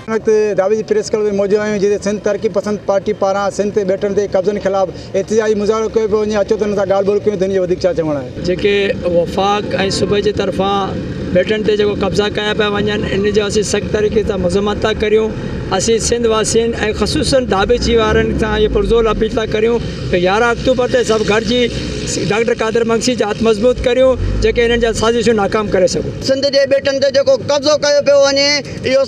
ان وقت داوي جي پريس ڪلب ۾ موجود آهيون جتي سنڌ ترقي پسند پارٽي پاران سنڌ تي ٻيٽن تي قبضن خلاف احتجاجي مظاهرو ڪيو پيو وڃي اچو ته ان سان ڳالهه ٻولهه ڪيون ٿين جو وڌيڪ ڇا چوڻ آهي. جيڪي وفاق ۽ صوبي جي طرفان ٻيٽن تي جيڪو قبضا ڪيا پيا وڃن ان جو اسين سخت طريقي سان مذمت ٿا ڪريون اسين سنڌ واسين ۽ خصوصن داوي جي وارن سان اهي پرزور اپيل ٿا ڪريون ته يارهن اڪتوبر تي سڀ گڏجي ڊاڪٽر قادر مگسي جا هٿ مضبوط ڪريون، جيڪي انهن جا سازشون ناڪام ڪري سگهون. سنڌ جي ٻيٽن تي جيڪو قبضو ڪيو پيو وڃي اهو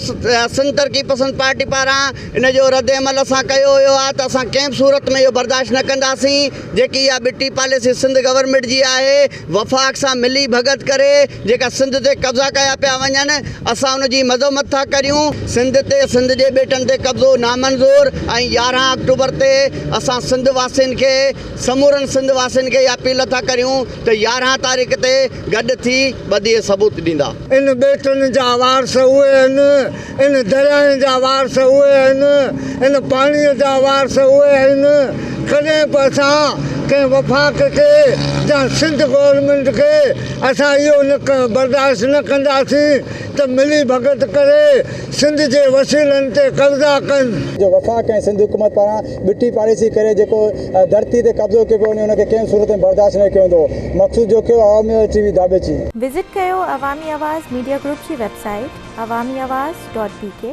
سنڌ ترقي پسند پارٽي پاران ان جو رد عمل اسان ڪيو ويو آهي ته اسان ڪنهن به صورت ۾ اهو برداشت نه ڪنداسين جيڪي اها ٻٽي پاليسي سنڌ گورنمينٽ جي آهي وفاق سان ملي ڀڳت ڪري جيڪا سنڌ تي قبضا ڪيا پيا وڃن اسان ان جي مذمت ٿا ڪريون سنڌ تي سنڌ جي ٻيٽن تي قبضو نامنظور ۽ يارهن آڪٽوبر تي اسان سنڌ واسين کي سمورن سنڌ واسين کي اها اپيل ٿا ڪريون ته يارهن تاريخ تي گڏ ٿي ٻڌي ثبوت ڏيندا. ان ٻيٽن جا وارث اهي آهن، ان درياهن جا وارث اهي آهن، ان پاڻيء جا وارث اهي آهن، ڪڏهن به اسان ڪنهن وفاق کي يا سنڌ گورنمينٽ کي اسان اهو برداشت نه ڪنداسين ته ملي ڀڳت ڪري سنڌ جي وسيلن تي قبضا ڪن. جو وفاق ۽ سنڌ حڪومت پاران ٻٽي پاليسي ڪري جيڪو ڌرتي تي قبضو ڪيو پيو وڃي ان کي ڪنهن صورت ۾ برداشت نه ڪيو ويندو مخصوص Jokhio Awami L T V داٻيچي. وزٽ ڪيو عوامي آواز ميڊيا گروپ جي website Awami Awaz dot بي ڪي.